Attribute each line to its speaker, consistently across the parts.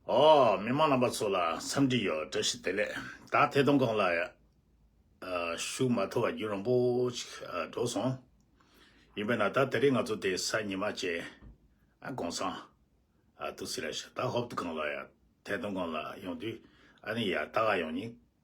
Speaker 1: འོ། མི་མང་རྣམ་པ་ཚོ་ལ་འཚམས་འདྲི་ཡོད་བཀྲ་ཤིས་བདེ་ལེགས་ད་ཐེ་ཐོང་ཁང་ལ་ཞུགས་མ་ཐུབ་བ་རྒྱུ་རང་པོ་ཅིག་འགྲོ་སོང་ཡིན་པས་ན་ད་དེ་རིང་ང་ཚོ་དེ་སང་ཉི་མ་བཅས་དགོང་སང་ཏུ་སི་ར་ཤ་ད་ཧོབ་ཏུ་ཁང་ལ་ཡ་ཐེ་ཐོང་ཁང་ལ་ཡོང་དུས་ཨ་ནི་ཡ་ད་ག་ཡོང་ཉིན་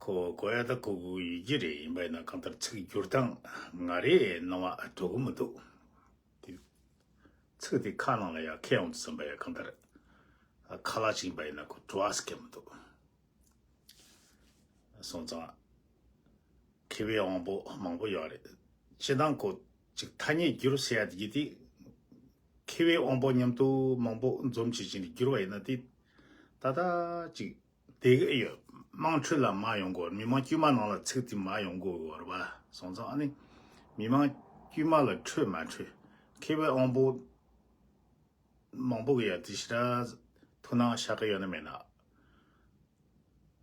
Speaker 1: ཁོ་བོ་ཀོ་ཡ་ད་ཁོ་གུ་ཡི་རྒྱུད་རེ་ཡིན་པ་ཡིན་ན་གང་ལྟར་ཚིག་བསྒྱུར་སྟངས་ང་རེ་སྣང་བ་འགྲོ་གི་མི་འདུག་དེ་ཚིག་དེ་ཁ་ནང་ལ་ཡང་ཁད་འོང་དུ་སོང་པ་ཡང་གང་ལྟར་ཁ་ལག་ཅིག་ཡིན་པ་ཡིན་ན་ཁོ་བྲོ་བ་ཟེར་གི་མི་འདུག་སོང་ཙང་མཁས་པའི་དབང་པོ་མང་པོ་ཡོད་རེད་སྤྱི་དང་ཁོ་ཅིག་ཐ་སྙད་བསྒྱུར་བྱས་ཡ་དེ་གྱིས་དེ་མཁས་པའི་དབང་པོ་མཉམ་དུ་མང་པོ་འཛོམས་བྱེད་ཀྱིན་བསྒྱུར་བ་ཡིན་ན་དེ་ད་ལྟ་ཅིག་དེ་ག་ཡོད་དམངས་ཁྲོད་ལ་མ་ཡོང་གོར་མི་མང་དཀྱུས་མ་ནང་ལ་ཚིག་དེ་མ་ཡོང་གོ་གོར་བ་སོང་ཙང་ཨ་ནི་མི་མང་དཀྱུས་མ་ལ་ཁྲོད་མ་ཁྲོད་ཁེ་བའི་དབང་པོ་མང་པོ་གི་ཡ་དེ་ཤི་ར་ཐུ་ནང་ཤ་ག་ཡོད་ན་མེད་ན་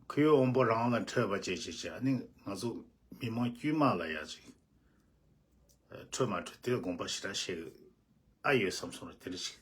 Speaker 1: ཁོའི་དབང་པོ་རང་ལ་ཁྲོད་བ་ཅེས་བྱས་ཀྱི་ཨ་ནི་ང་ཚོ་མི་མང་དཀྱུས་མ་ལ་ཡ་ཅིག་ཁྲོད་མ་ཁྲོད་དེ་དགོངས་པ་ཤི་ར་བཤད་གི་ཨ་ཡོད་བསམ་སོང་ར་དེ་རི་ཤི།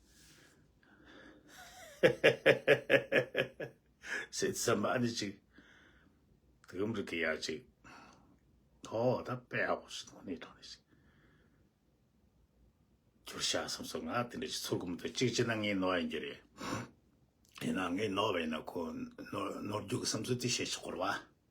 Speaker 1: སེ་ཚེ་མ་ནི་ཅིག་དེ་གམ་རིག་གི་ཡ་ཅིག་ཐོ་ད་པེ་ཨོ་སི་ནོ་ནི་ཐོ་ནི་ཅིག་ཅུར་ཤ་སམ་སོ་ང་དེ་ནི་ཅིག་ཚུར་གུམ་དུ་ཅིག་ཅི་ན་ངའི་ནོ་ཡིན་གྱི་རེ་ཡིན་ན་ངའི་ནོ་བས་ན་ཁོ་ནོར་རྒྱུག་གི་སམ་སོ་དེ་ཤེས་ཆོག་གོ་ར་བ་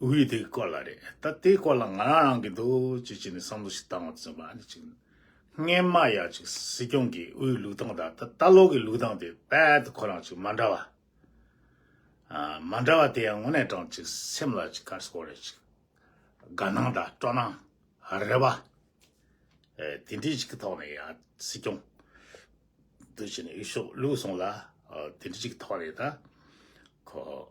Speaker 1: དབུས་དེ་གི་སྐོར་ལ་རེད་ད་དེའི་སྐོར་ལ་ང་རང་རང་གི་འདུག་ཅེས་བྱས་ནས་བསམ་བློ་ཞིག་བཏང་བ་བཙུན་པ་ཨ་ནི་ཅིག་རྔན་མ་ཡ་ཅིག་སྲིད་སྐྱོང་གི་དབུས་ལུགས་སྟངས་དང་ད་ལྟ་ལོག་གི་ལུགས་སྟངས་དེ་རྦད་དེ་ཁོ་རང་ཅིག་མ་འདྲ་བ། མ་འདྲ་བ་དེ་ཡང་ངོ་ནས་དྲང་ཅིག་སེམས་ལ་ཅིག་ཁར་སོག་རེད་ཅིག་དགའ་སྣང་དང་སྤྲོ་སྣང་རེད་བ། དེ་འདྲི་ཅིག་གི་ཐོག་ནས་ཡ་སྲིད་སྐྱོང་འདུག་བྱས་ནས་ཡུལ་ཤོག་ལུགས་སོང་ལ་དེ་འདྲི་ཅིག་གི་ཐོག་ནས་ད་ཁོ།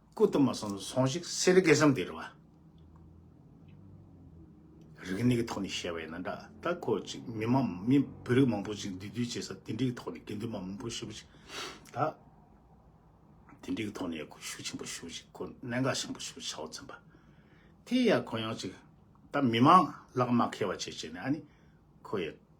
Speaker 1: སྐུ་གཏུམ་མ་སོང་སོང་ཞིག་གསེར་རི་གས་སམ་དེ་རི་བ། རིག་གནས་ཀྱི་ཐོག་ནས་བཤད་པ་ཡིན་ན་འདྲ་ད་ཁོ་ཅིག་མི་མང་མི་བོད་རིགས་མང་པོ་ཅིག་འདུས་སྡོད་བྱེད་ས་དེ་འདྲའི་ཐོག་ནས་དགེ་འདུན་པ་མང་པོ་ཞུགས་ཅིག་ད། དེ་འདྲའི་ཐོག་ནས་ཡག་ཁོ་ཤུགས་ཆེན་པོ་ཞུགས་ཅིག་ཁོ་གནད་འགག་ཆེན་པོ་ཞུགས་ཆའོ་ཙེན་པ་དེ་ཡག་ཁོ་ཡང་ཅིག་ད་མི་མང་ལག་དམག་ཁེལ་བ་བྱེད་བྱེད་ནས་ཨ་ནི་ཁོ་ཡག།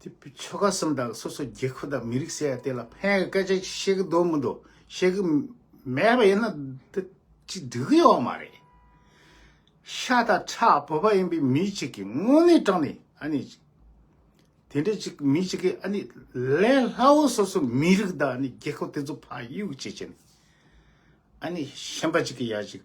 Speaker 1: དེ་བུ་ཆོལ་ཁ་གསུམ་དང་སོ་སོ་རྒྱལ་ཁབ་དང་མི་རིགས་ཟེར་ཡ་དེ་ལ་ཕན་གི་སྐད་ཆ་བཤད་གི་འདུག་མི་འདུག་བཤད་གི་མེད་པ་ཡིན་ན་དེ་ཅི་སྡུག་གི་ཡོད་མ་རེད། ཤ་དང་ཁྲག་བོད་པ་ཡིན་པའི་མི་ཅིག་གིས་དངོས་གནས་དྲང་ནས་ཨ་ནི་དེ་འདྲ་ཅིག་མི་ཅིག་གིས་ཨ་ནི་ལས་སླ་བོ་སོ་སོ་མི་རིགས་དང་ཨ་ནི་རྒྱལ་ཁབ་དེ་ཚོ་ཕ་ཡུག་བྱེད་ཀྱི་ཨ་ནི་ཞེན་པ་ཅིག་གིས་ཡ་ཅིག།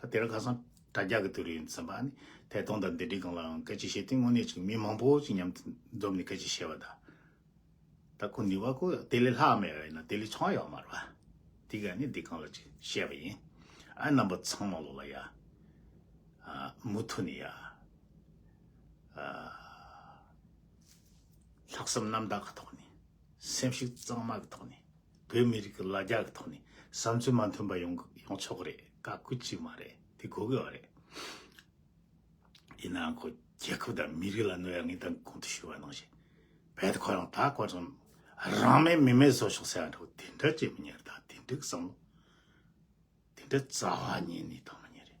Speaker 1: ད་དེར་ཁ་སང་དྲ་རྒྱ་གི་དུས་རིང་ཟིན་པ་ནི་ཐད་གཏོང་དང་འདི་འདྲི་གང་ལའང་སྐད་ཆ་བཤད་དུས་དངོས་གནས་ཅིག་མི་མང་པོ་ཅིག་མཉམ་དུ་འཛོམས་ནས་སྐད་ཆ་བཤད་པ་དང། ད་ཁོ་ནུས་བ་ཁོ་དེ་ལས་ལྷག་མེད་རེད་ན་དེ་ལས་ཆང་ཡག་མ་རེད་བ། དེ་ག་ནི་འདི་གང་ལ་ཅིག་བཤད་པ་ཡིན། ཨ་རྣམ་པ་ཚང་མ་ལོག་ལ་ཡ། ཨ་མུ་མཐུ་ནི་ཡ། ཨ། ལྷག་བསམ་རྣམ་དག་གི་ཐོག་ནས་སེམས་ཤུགས་གཙང་མ་གི་ཐོག་ནས། བོད་མི་རིགས་ཀྱི་ལ་རྒྱ་གི་ཐོག་ནས་བསམ་ཚུལ་མ་མཐུན་པ་ཡོང་གི་ཡོང་ཆོག་གི་རེད་བཀའ་བཀོད་ཅིག་མ་རེད་དེ་གོ་དགོས་བ་རེད། ཡིན་ནའང་ཁོ་རྒྱལ་ཁབ་དང་མི་རིགས་ལ་གནོད་ཡ་ངེས་དང་གོང་དུ་ཞུས་བ་ནང་བཞིན་བལ་དུ་ཁོ་རང་ད་གོ་རང་རང་མེད་མི་མེད་བཟོ་ཆོག་ཟེར་བ་འདྲ་བོ་དེ་འདྲ་བྱེད་མི་ཉན་རེད་ད་དེ་འདྲའི་བསམ་བློ་དེ་འདྲའི་རྩ་བ་ཉན་ནས་དང་མ་ཉན་རེད།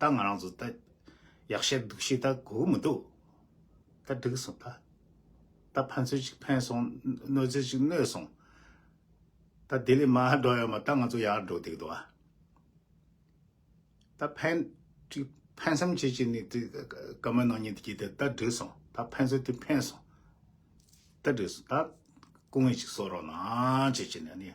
Speaker 1: ད་ང་རང་ཚོ་ད་ཡག་ཤེས་འདུག་ཤེས་ད་གོ་གི་མི་འདུག་ད་འགྲིག་སོང་ད་ད་ཕན་ཚུན་ཅིག་ཕན་སོང་གནོད་ཚུལ་ཅིག་གནོད་སོང་ད་དེ་ལས་མ་འགྲོ་ཡོད་མ་ད་ང་ཚོ་ཡག་འགྲོ་བསྡད་འདུག་ཨ། ད་ཕན་ཅིག་ཕན་སེམས་བྱེད་ཅིག་ནས་དེ་སྐར་མ་ནང་ཉིན་དེ་གྱིས་ད་འགྲིག་སོང་ད་ཕན་ཚུན་དེ་ཕན་སོང་ད་འགྲིག་སོང་ད་སྐུ་ངལ་ཅིག་གསོ་རོགས་གནང་བྱེད་ཅིག་ནས་ནི།